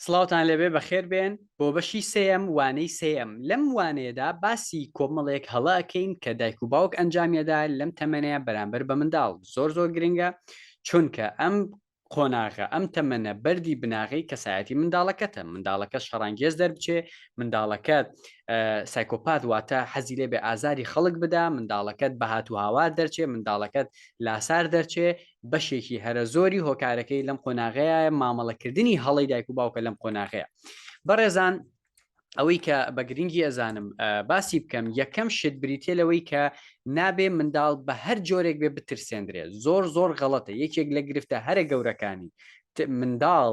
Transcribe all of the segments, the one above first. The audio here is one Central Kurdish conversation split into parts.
سڵاوتان لێبێ بەخێر بێن بۆ بەشی سێیەم وانەی سێیەم لەم وانەیەدا باسی کۆمەڵێک هەڵە ئەکەین کە دایک و باوک ئەنجامیەدا لەم تەمەنەیە بەرامبەر بە منداڵ زۆر زۆر گرنگە چونکە ئەم قۆناغە ئەم تەمەنە بەردی بناغەی کەسایەتی منداڵەکەتە منداڵەکە شەڕانگێز دەربچێ منداڵەکە سایکۆپات واتە حەزی لێ بێ ئازاری خەڵک بدا منداڵەکەت بەهات و هاوار دەرچێ منداڵەکەت لاسار دەرچێ بەشێکی هەرە زۆری هۆکارەکەی لەم قۆناغەیە مامەڵەکردنی هەڵی دایک و باوکە لەم قۆناغەیە بەڕێزان ئەوەی کە بە گرنگی ئەزانم باسی بکەم یەکەم شت بریتە لەوەی کە نابێ منداڵ بە هەر جۆرێک بێ بترسێندرێت زۆر زۆر غەڵەتە یەکێک لە گرفتە هەرە گەورەکانی منداڵ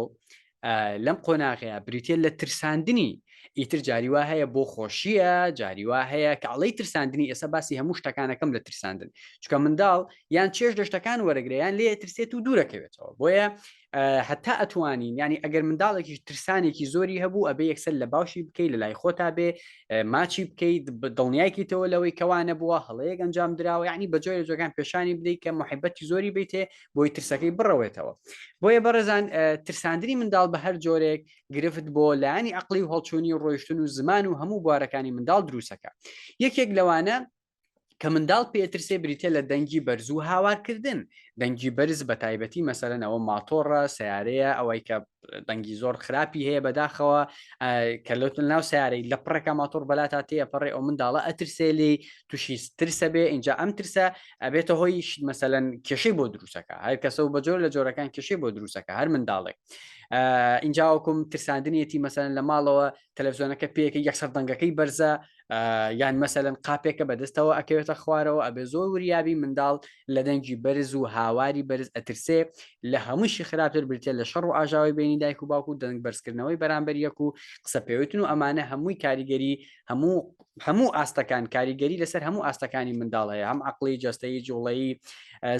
لەم قۆناغەیە بریتە لە ترساندنی ئیتر جاری وا هەیە بۆ خۆشیە جاری وا هەیە کە ئەڵی ترساندنی ئێستا باسی هەموو شتەکانەکەم لە ترساندن چکە منداڵ یان چێش دەشتەکان وەرەگریان لێ ترسێت و دوورەکەوێتەوە بۆیە هەتا ئەتوانین ینی ئەگەر منداڵێکی ترسانێکی زۆری هەبوو ئەبێ یەکسەر لە باشی بکەیت لە لای خۆتا بێ ماچی بکەیت دڵنیایکەیتەوە لەوەی کەوانە بووە هەڵەیەک ئەنجام درراوە ینی بەجۆی جۆگان پێشانی بدەیت کە محبەتی زۆری بیتێ بۆی ترسەکەی بڕەوێتەوە بۆیە بەڕێزان ترساندنی منداڵ بە هەر جۆرێک گرفت بۆ لایانی عقلی و هەڵچوونی و ڕۆیشتن و زمان و هەموو بوارەکانی منداڵ دروستەکە یەکێک لەوانە کە منداڵ پێترسێ بریتە لە دەنگی بەرزوو هاوارکردن دەنگی بەرز بە تایبەتی مەسەرەنەوە ماتۆڕە سیارەیە ئەوەی کە دەنگی زۆر خراپی هەیە بەداخەوە کە لەوتن ناو سیارەی لە پڕێکە ماتۆڕ بەلا تا تێە پەڕێ ئەو منداڵە ئەترسێلی تووشی ترسە بێ اینجا ئەم ترسە ئەبێتە هۆی مەسەەن کێشەی بۆ دروستەکە هەر کەسە و بە جۆر لە جۆرەکان کێشەی بۆ دروستەکە هەر منداڵێک ئینجاوەکم ترساندنیەتی مەسەن لە ماڵەوە تەلەڤزیۆنەکە پێەکە یەکسەر دەنگەکەی بەرزە یان مەسەن قاپێکە بەدەستەوە ئەکەوێتە خوارەوە ئەبێ زۆر وریابی منداڵ لە دەنگی بەرز و هاواری بەرز ئەترسێ لە هەمووشی خراپتر برتێ لە شەڕ و ئاژاوی بینی دایک و باوکو دەنگ بەرزکردنەوەی بەرامبەر یەک و قسە پێوتن و ئەمانە هەمووی کاریگەری هەموو هەموو ئاستەکان کاریگەری لەسەر هەموو ئاستەکانی منداڵەیە هەم عقلی جستەی جوڵەی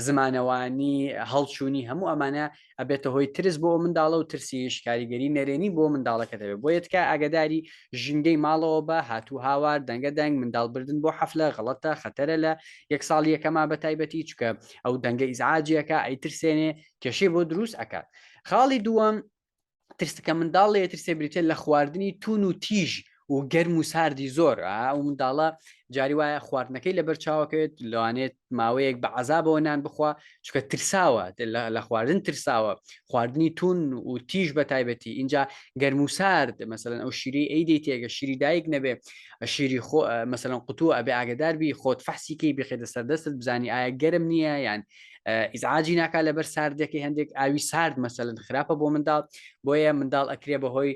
زمانەوانی هەڵچوونی هەموو ئەمانە ئەبێتە هۆی ترس بۆ منداڵە و ترسیش کاریگەری نەرێنی بۆ منداڵەکە دەبێت بۆ یەتکە ئاگداری ژینگەی ماڵەوە بە هاتوو هاوار دەنگە دەنگ منداڵ بردن بۆ حەفلە غەڵەتە خەتەرە لە یەک ساڵ یەکەما بە تایبەتی چکە ئەو دەنگە ئیزعاجیەکە ئەیترسێنێ کێشەی بۆ دروست ئەکات خاڵی دووەم ترس کە منداڵ لێ ترسێ بریتە لە خواردنی تون و تیژ و گەرم و ساردی زۆر ئەو منداڵە جاری وایە خواردنەکەی لە بەرچاوەکەوێت لەوانێت ماوەیەک بە عذابەوە نان بخوا چکە ترساوە لە خواردن ترساوە خواردنی تون و تیژ بە تایبەتی اینجا گەرم و سارد مەمثلەن ئەو شیری ئەیدی تێگە شیری دایک نەبێ شیری خۆ مەمثلەن قوتووە ئەبێ ئاگداربی خۆت فەحسیکەی بخێتە سەردەستت بزانی ئایا گەرم نییە یان ئیزعاجی ناکا لەبەر ساردەکەی هەندێک ئاوی سارد مەسەلن خراپە بۆ منداڵ بۆیە منداڵ ئەکرێ بەهۆی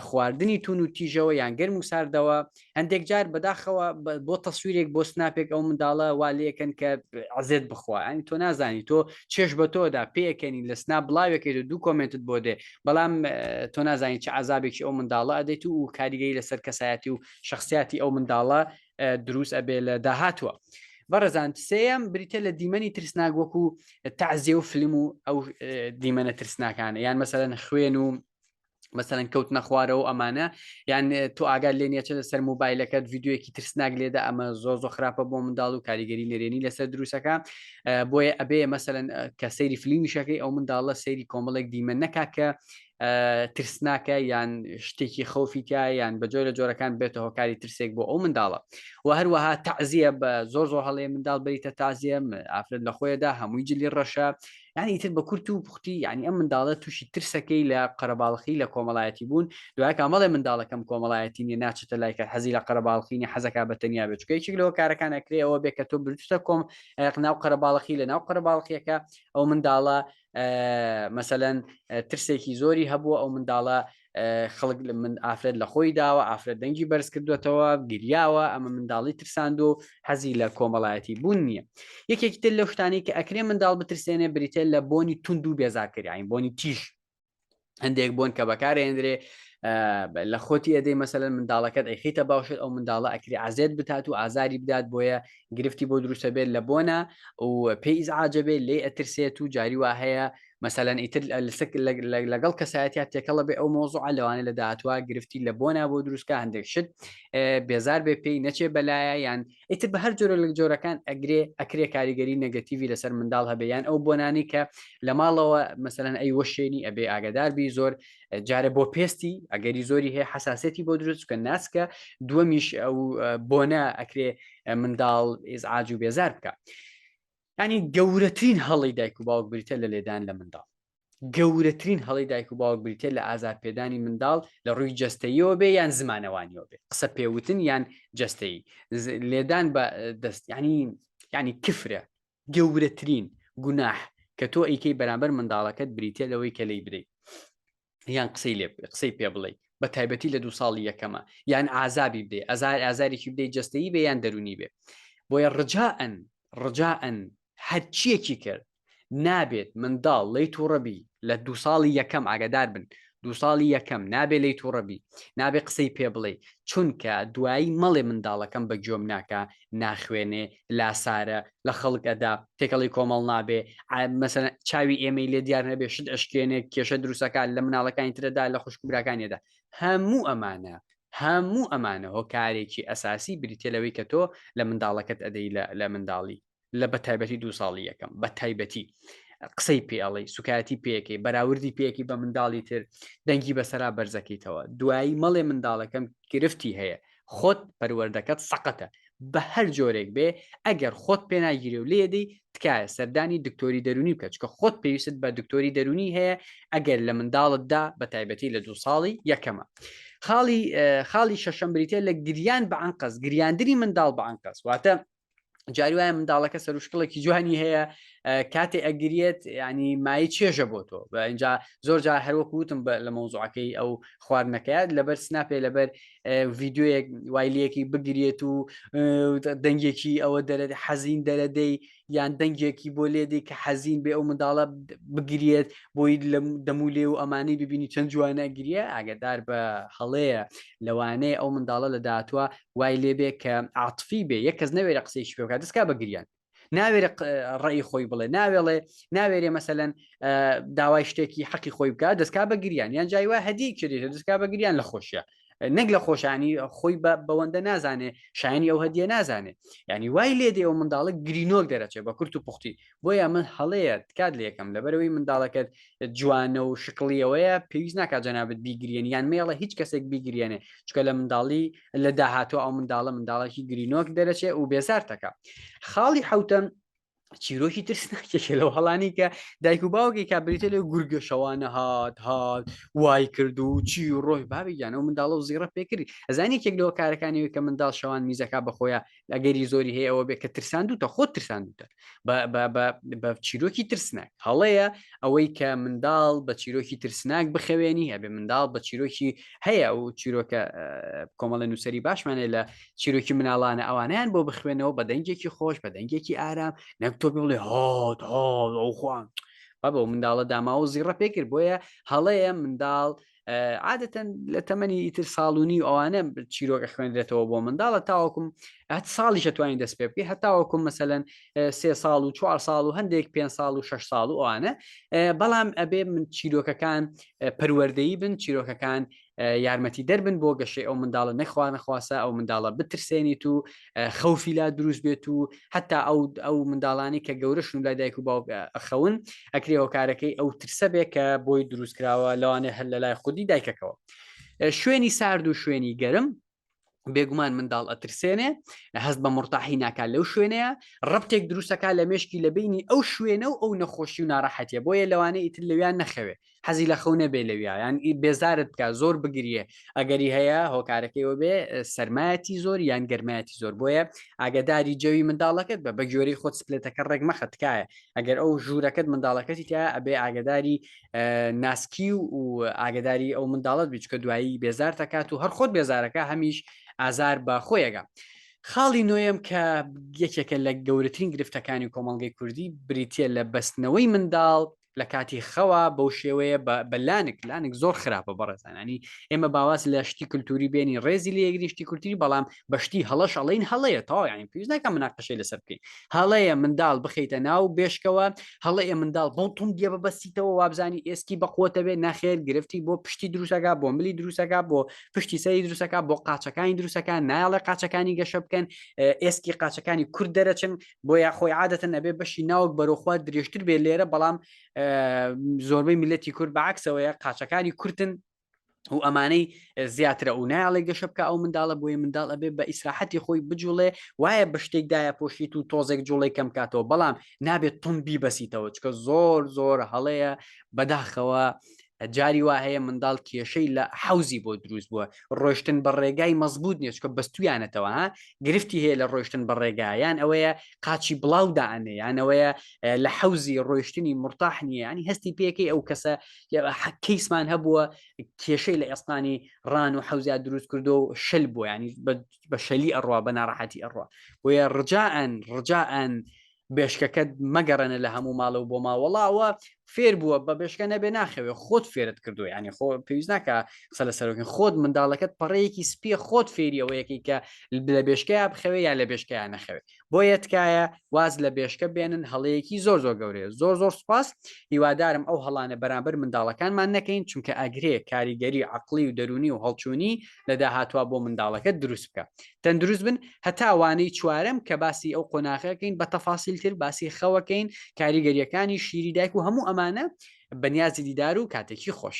خواردنی تون و تیژەوە یان گەرم و ساردەوە هەندێک جار بەداخەوە بۆ تەسویرێک بۆ سناپێک ئەو منداڵە والەکەن کە عزێت بخوا ئەنی تۆ نازانی تۆ چێش بە تۆدا پێکەنی لە سنا بڵاوێکێت و دوو کۆمنتت بۆ دێ بەڵام تۆ نازانی چ عذابێکی ئەو منداڵە ئەدەیت و کاریگەی لەسەر کەسایەتی و شخصیاتی ئەو منداڵە دروست ئەبێ لە داهاتوە بەڕزان سێم بریتە لە دیمەنی ترسناک وەکو تازێ و فلم و ئەو دیمەنە ترسناکانە یان مەسەرەن خوێن و مەسەرەن کەوت نەخوارەوە ئەمانە یان تۆ ئاگار لێ نیەچە لەسەر موبایلەکەت یددیوەکی ترسناک لێدا ئەمە زۆ زۆ خراپە بۆ منداڵ و کاریگەری نەرێنی لەسەر دروستەکە بۆیە ئەبێ مەسەرەن کە سەیری فلیمیشەکەی ئەو منداڵە سەیری کۆمەڵێک دیمە نەکا کە ترسناکە یان شتێکی خەوفی تیا یان بە جۆرە جۆرەکان بێتە هۆکاری ترسێک بۆ ئەو منداڵە و هەروەها تەعزیە بە زۆر زۆر هەڵێ منداڵ بریتە تازیەم ئافرەت لە خۆیدا هەمووی جلی ڕەشە یعنی تر بە کورت و پختی یعنی ئەم منداڵە تووشی ترسەکەی لە قەرەباڵخی لە کۆمەڵایەتی بوون دوای کامەڵێ منداڵەکەم کۆمەڵایەتی نیە ناچێتە لایکە حەزی لە قەرەباڵخینی حەزەکە بە تەنیا بچکە یەکێک لەوە کارەکان ئەکرێەوە بێ کە تۆ برتە کۆم ناو قەرەباڵخی لە ناو قەرەباڵخیەکە ئەو منداڵە مەسەەن ترسێکی زۆری هەبووە ئەو منداڵە خەڵک لە من ئافرەت لە خۆی داوە ئافرەت دەنگی بەرز کردوێتەوە گریاوە ئەمە منداڵی ترساند و حەزی لە کۆمەڵایەتی بوون نییە یەکێکی تر لە شتانی کە ئەکرێ منداڵ بترسێنێ بریتە لە بۆنی تونند و بێزاکەریین بۆنی تیژ هەندێک بۆن کە بەکارێندرێ لە خۆتی ئەدەی مەسەن منداڵەکەت ئەیخیتە باشێت ئەو منداڵە ئەکری عزێت بتات و ئازاری بدات بۆیە گرفتی بۆ دروستە بێت لە بۆنە و پێی ئیزعاجە بێت لێ ئەترسێت و جاری وا هەیە مەسەەن ئیتر لەسک لەگەڵ کەسایەتیا تێکەڵە بێ ئەو مۆزوع لەوانە لە داهاتوە گرفتی لە بۆنا بۆ دروستکە هەندێک شت بێزار بێ پێی نەچێ بەلایە یان ئیتر بە هەر جۆرە لە جۆرەکان ئەگرێ ئەکرێ کاریگەری نەگەتیوی لەسەر منداڵ هەبێ یان ئەو بۆنانی کە لە ماڵەوە مەسەەن ئەی وەشێنی ئەبێ ئاگداربی زۆر جارە بۆ پێستی ئەگەری زۆری هەیە حساسەتی بۆ دروست کە ناسکە دووەمیش ئەو بۆنە ئەکرێ منداڵ ئێزعاج و بێزار بکە ینی گەورەترین هەڵی دایک و باوک بریتە لە لێدان لە منداڵ گەورەترین هەڵی دایک و باوک بریتە لە ئازار پێدانی منداڵ لە ڕووی جەستەیەوە بێ یان زمانەوانیەوە بێ قسە پێوتن یان جەستەی لێدان بە دەست ینی ینی کفرە گەورەترین گوناح کە تۆ ئەیکەی بەرامبەر منداڵەکەت بریتە لەوەی کە لی بدەیت یان قسەی لێ قسەی پێ بڵێ بە تایبەتی لە دوو ساڵی یەکەمە یان ئازابی بدەی ئەزار ئازارێکی بدەی جستەی بێ یان دەرونی بێ بۆیە ڕجاەن ڕجاەن هەرچیەکی کرد نابێت منداڵ لەی تووڕەبی لە دوو ساڵی یەکەم ئاگادار بن دوو ساڵی یەکەم نابێ لەی تووڕەبی نابێ قسەی پێ بڵێ چونکە دوایی مەڵێ منداڵەکەم بە گوێم ناکە ناخوێنێ لاسارە لە خەڵک ئەدا تێکەڵی کۆمەڵ نابێ مەسەن چاوی ئێمەی لێ دیار نەبێ شت ئەشکێنێ کێشە دروستەکە لە مناڵەکانی ترەدا لە خوشکبراکانیدا هەموو ئەمانە هەموو ئەمانە هۆکارێکی ئەساسی بریتە لەوەی کە تۆ لە منداڵەکەت ئەدەی لە منداڵی لە بە تایبەتی دو ساڵی یەکەم بە تایبەتی قسەی پێڵی سوکایەتی پێەکەی بەراوردی پێەکی بە منداڵی تر دەنگی بەسەرا بەرزەکەیتەوە دوایی مەڵێ منداڵەکەم گرفتی هەیە خۆت پەروەردەکەت سەقەتە بە هەر جۆرێک بێ ئەگەر خۆت پێناگیرێ و لێدەی تکایە سەردانی دکتۆری دەرونی بکە چکە خۆت پێویست بە دکتۆری دەرونی هەیە ئەگەر لە منداڵتدا بە تایبەتی لە دو ساڵی یەکەمە خاڵی خاڵی شەشەم بریتە لە گریان بەعنقەس گریاندنی منداڵ بەعنقەس واتە جاری وایە منداڵەکە سەروشکڵێکی جوانی هەیە کاتێ ئەگریێت ینی مای چێژە بۆ تۆ بە اینجا زۆر جا هەروەکو وتم لە مۆزوعەکەی ئەو خواردنەکەیات لەبەر سناپێ لەبەر ڤیددیوەیەک وایلەکی بگرێت و دەنگێکی ئەوە دەرێت حەزین دەرەدەی یان دەنگێکی بۆ لێدی کە حەزین بێ ئەو منداڵە بگرێت بۆی لە دەمولێ و ئەمانی ببینی چەند جوانە گریە ئاگدار بە هەڵەیە لەوانەیە ئەو منداڵە لە دااتوە وای لێ بێ کە عاتفی بێ یەک کەس نەوێرە قسەیشی پێ بکات دەستکا بە گریان ناوێرە ڕێی خۆی بڵێ ناوێڵێ ناوێرێ مەسەەن داوای شتێکی حەقی خۆی بکات دەستکا بە گریان یان جای وای هەدی کردێت دەستکا بە گریان لە خۆشیە نەک لە خۆشانی خۆی بە بەوەندە نازانێ شایانی ئەو هەدیە نازانێ ینی وای لێ دێ و منداڵک گرینۆک دەرەچێت بە کورت و پوختی بۆیە ئەمە هەڵەیە تکات لێکەم لەبەرەوەی منداڵەکەت جوانە و شکڵیەوەیە پێویست ناکات جەنابەت بیگرێن یان مێڵە هیچ کەسێک بیگرێنێ چکە لە منداڵی لە داهاتوە ئەو منداڵە منداڵێکی گرینۆک دەرەچێ و بێزارتەکە خاڵی حوتەم چیرۆکی ترسناکێکە لەو هەڵانی کە دایک و باوکی کا بریتە لە گورگە شەوانە هاات هاات وای کرد و چی ڕۆی بابیان ئەو منداڵە و زیڕە پێکرد ئەزانانی کێک لەوە کارەکانی کە منداڵ شەوان میزەکە بەخۆیان ئەگەری زۆری هەیە ئەوە بێ کە ترساندوتە خۆ ترساندوتە بە چیرۆکی ترسناک هەڵەیە ئەوەی کە منداڵ بە چیرۆکی ترسناک بخەوێنی هەبێ منداڵ بە چیرۆکی هەیە ئەو چیرۆکە کۆمەڵە نووسری باشمانێ لە چیرۆکی مناڵانە ئەوانیان بۆ بخوێنەوە بە دەنگێکی خۆش بە دەنگێکی ئارام نەک تۆ بڵێ هات هاڵ ئەو خوان. بەبە منداڵە داماوە زیڕە پێکرد بۆیە هەڵەیە منداڵ عادەتەن لە تەمەنی ئیتر ساڵونی و ئەوانە چیرۆکە خوێندرێتەوە بۆ منداڵە تاوەکم هەت ساڵی شتوانین دەست پێ بکە هەتاوەکم مەسەەن سێ ساڵ و چوار ساڵ و هەندێک پێ ساڵ و شش ساڵ و ئەوانە بەڵام ئەبێ من چیرۆکەکان پەروەردەی بن چیرۆکەکان یارمەتی دەربن بۆ گەشەی ئەو منداڵە نەخوا نەخواسە ئەو منداڵە بترسێنیت و خەوفی لا دروست بێت و هەتا ئەو ئەو منداڵانی کە گەورەشن لای دایک و باوک ئەخەون ئەکرێ هۆکارەکەی ئەو ترسە بێ کە بۆی دروستکراوە لەوانێ هەر لە لای خودی دایکەکەەوە شوێنی سارد و شوێنی گەرم بێگومان منداڵ ئەترسێنێ هەست بە مڕتاحی ناکات لەو شوێنەیە ڕبتێک دروستەکە لە مشکی لە بینی ئەو شوێنە و ئەو نەخۆشی و ناڕەحەتە بۆیە لەوانەیە ئیتر لەویان نەخەوێ حەزی لە خەو نەبێ لەویا یان ئی بێزارت بکە زۆر بگریێ ئەگەری هەیە هۆکارەکەی وەبێ سەرمایەتی زۆر یان گەرمایەتی زۆر بۆیە ئاگداری جەوی منداڵەکەت بە بە گوێری خۆت سپلێتەکە ڕێک مەخە تکایە ئەگەر ئەو ژوورەکەت منداڵەکەتی تیا ئەبێ ئاگداری ناسکی و و ئاگداری ئەو منداڵت بچکە دوایی بێزار دەکات و هەر خۆت بێزارەکە هەمیش ئازار بە خۆیەگە. خاڵی نوێم کە یەکێکە لە گەورەترین گرفتەکانی کۆمەڵگەی کوردی بریتە لە بەستنەوەی منداڵ لە کاتی خەوە بەو شێوەیە بە لانک لانک زۆر خراپە بەڕێزانانی ئێمە باواز لە شتی کللتوری بێنی ڕێزی لە یەگریشتی کولتوری بەڵام بەشتی هەڵەش ئەڵین هەڵەیە تاوایانی پێویستەکە مناقەشەی لەسەر بکەین هەڵەیە منداڵ بخیتە ناو بێشکەوە هەڵەیە منداڵ بۆ تون دیە بەبەستیتەوە وابزانانی ئێسکی بەقوتە بێ ناخێر گرفتی بۆ پشتی دروستەکە بۆ ملی دروستەکە بۆ پشتی سەری دروستەکە بۆ قاچەکانی دروستەکان نایڵە قاچەکانی گەشە بکەن ئێسکی قاچەکانی کورد دەرەچن بۆیە خۆی عادەتەن ئەبێ بەشی ناوک بەرەخوا درێژتر بێ لێرە بەڵام زۆربەی میلەتی کورد بەعکسەوەیە قاچەکانی کورتن و ئەمانەی زیاترە و نایڵێ گەشە بکە ئەو منداڵە بۆیە منداڵ ئەبێ بە ئیسراحەتی خۆی بجوڵێ وایە بە شتێکدایە پۆشیت و تۆزێک جوڵی کەم کاتەوە بەڵام نابێت تون بیبەسیتەوە چکە زۆر زۆر هەڵەیە بەداخەوە جاری وا هەیە منداڵ کێشەی لە حەوزی بۆ دروست بووە ڕۆشتن بە ڕێگای مەزبوط نیچکە بەستویانەتەوە گرفتی هەیە لە ڕۆشتن بە ڕێگایان ئەوەیە قاچی بڵاودا ئەنەیانەوەیە لە حەوزی ڕۆشتنی مرتاح نیە ینی هەستی پێەکەی ئەو کەسە حەکەیسمان هەبووە کێشەی لە ئێستانی ڕان و حەوزیا دروست کردو و شل بۆیانی بە شەلی ئەڕوا بە ناڕەحەتی ئەڕوا بۆیە ڕجاان ڕجاان بێشکەکەت مەگەڕێنە لە هەموو ماڵە و بۆ ماوەڵاوە فێر بووە بە بێشکە نەبێ ناخەوێ خۆت فێرت کردو ینی خۆ پێویست ناکە قسە لە سەرۆکن خۆت منداڵەکەت پەڕەیەکی سپیە خۆت فێریەوەیەکی کە لە بێشکەیە بخەوێ یا لە بێشکەیان نەخەوێ بۆ یەتکایە واز لە بێشکە بێنن هەڵەیەکی زۆر زۆر گەورەیە زۆر زۆر سپاس هیوادارم ئەو هەڵانە بەرامبەر منداڵەکانمان نەکەین چونکە ئەگرێ کاریگەری عقلی و دەرونی و هەڵچوونی لە داهاتوە بۆ منداڵەکەت دروست بکە تەندروست بن هەتا وانەی چوارم کە باسی ئەو قۆناغەکەین بە تەفاسیلتر باسی خەوەکەین کاریگەریەکانی شیری دایک و هەموو ئەمانە بەنیازی دیدار و کاتێکی خۆش